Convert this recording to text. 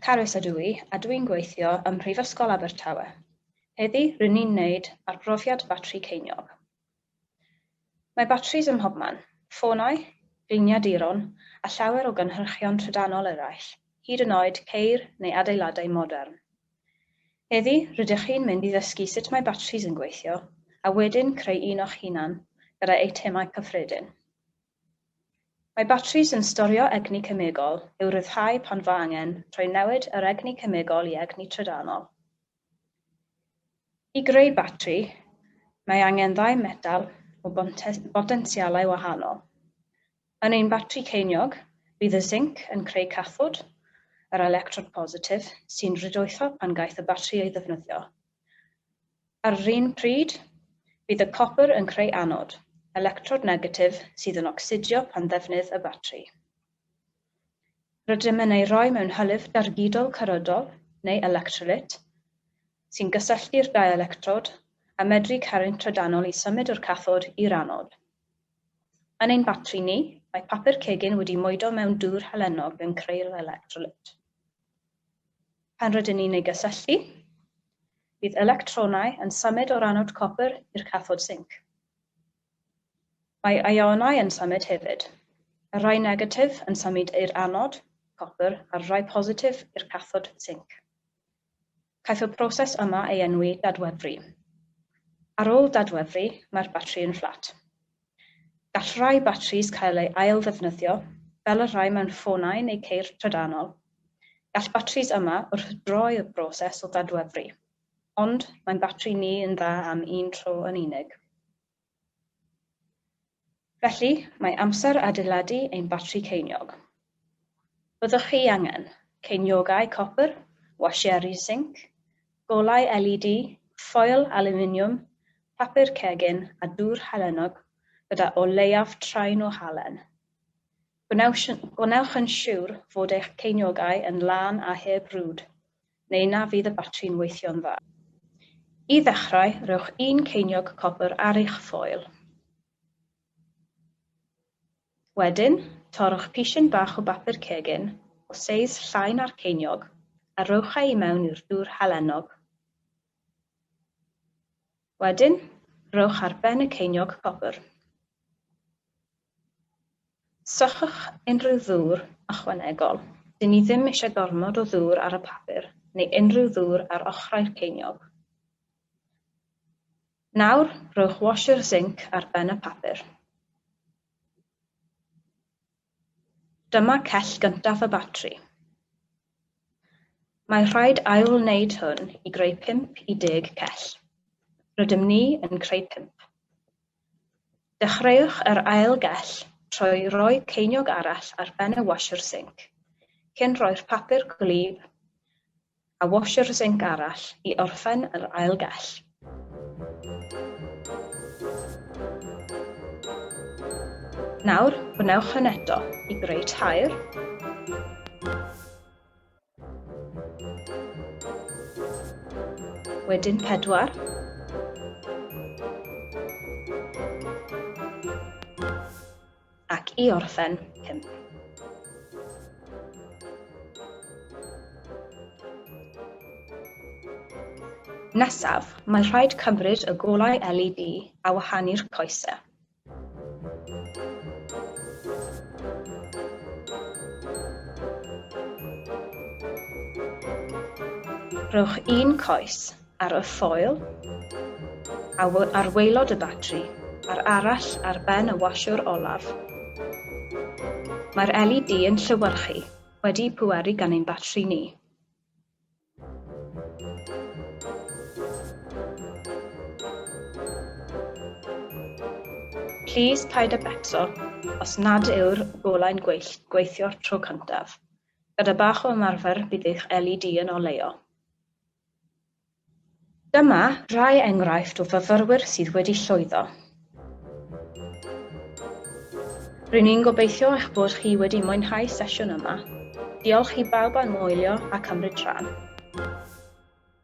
Carys ydw i a dw i'n gweithio ym Mhrifysgol Abertawe. Heddi, rŷn ni'n wneud arbrofiad batri ceiniog. Mae batris ym mhobman, ffonau, gliniaduron a llawer o gynhyrchion trydanol eraill, hyd yn oed ceir neu adeiladau modern. Heddi, rydych chi'n mynd i ddysgu sut mae batris yn gweithio a wedyn creu un o'ch hunan gyda eitemau cyffredin. Mae batris yn storio egni cemegol i'w ryddhau pan fo angen rhoi newid yr egni cemegol i egni trydanol. I greu batri, mae angen ddau metal o botensialau wahanol. Yn ein batri ceiniog, bydd y zinc yn creu cathod, yr electrod positif, sy'n rhydoetho pan gaiff y batri ei ddefnyddio. Ar yr un pryd, bydd y copr yn creu anod, electrod negatif sydd yn ocsidio pan ddefnydd y batri. Rydym yn ei roi mewn hylif dargydol cyrydol, neu electrolyt, sy'n gysylltu'r dau electrod a medru caru'n trydanol i symud o'r cathod i'r anod. Yn ein batri ni, mae papur cegin wedi moedo mewn dŵr halennog yn creu'r electrolyt. Pan rydyn ni'n ei gysylltu, bydd electronau yn symud o'r anod copr i'r cathod sinc. Mae ïonau yn symud hefyd. Y rhai negatif yn symud i'r anod, copr, a'r rhai positif i'r cathod, sinc. Caiff y proses yma ei enwi dadwefru. Ar ôl dadwefru, mae'r batri yn fflat. Gall rhai batris cael eu ail-ddefnyddio, fel y rhai mewn ffonau neu ceir trydanol. Gall batris yma wrthdroi y broses o ddadwefru. Ond mae'n batri ni yn dda am un tro yn unig. Felly, mae amser adeiladu ein batri ceiniog. Byddwch chi angen, ceiniogau copr, wasieri sinc, golau LED, ffoil alwminiwm, papur cegin a dŵr halennog gyda o leiaf train o halen. Gwnewch yn siwr fod eich ceiniogau yn lân a heb rwd. neu na fydd y batri'n weithio'n dda. I ddechrau, rhowch un ceiniog copr ar eich ffoil. Wedyn, torrwch pishyn bach o bapur cegin, o seis llai na'r ceiniog, a rhowch e i mewn i'r dŵr halennog. Wedyn, rhowch ar ben y ceiniog copr. Sychwch unrhyw ddŵr ychwanegol, dyn ni ddim eisiau gormod o ddŵr ar y papur neu unrhyw ddŵr ar ochrau'r ceiniog. Nawr, rhowch washer zinc ar ben y papur. Dyma cell gyntaf y batri. Mae rhaid ail-wneud hwn i greu pump i deg cell. Rydym ni yn creu pump. Dechreuwch yr ail gell trwy roi ceiniog arall ar ben y washer sinc, cyn rhoi'r papur gwlyb a washer sinc arall i orffen yr ail gell. Nawr, gwnewch hyn eto i greu tair. Wedyn pedwar. Ac i orffen, pump. Nesaf, mae'n rhaid cymryd y golau LED a wahanu'r coesau. Rhowch un coes ar y ffoil ar waelod y batri a'r arall ar ben y wasiwr olaf. Mae'r LED yn llewyrchu wedi pweru gan ein batri ni. Plîs paid â becso os nad yw'r golau'n gwyllt gweithio'r tro cyntaf. Gyda bach o ymarfer bydd eich LED yn oleuo. Dyma rai enghraifft o fyfyrwyr sydd wedi llwyddo. Rŷn ni'n gobeithio eich bod chi wedi mwynhau sesiwn yma. Diolch i bawb am wylio a cymryd rhan.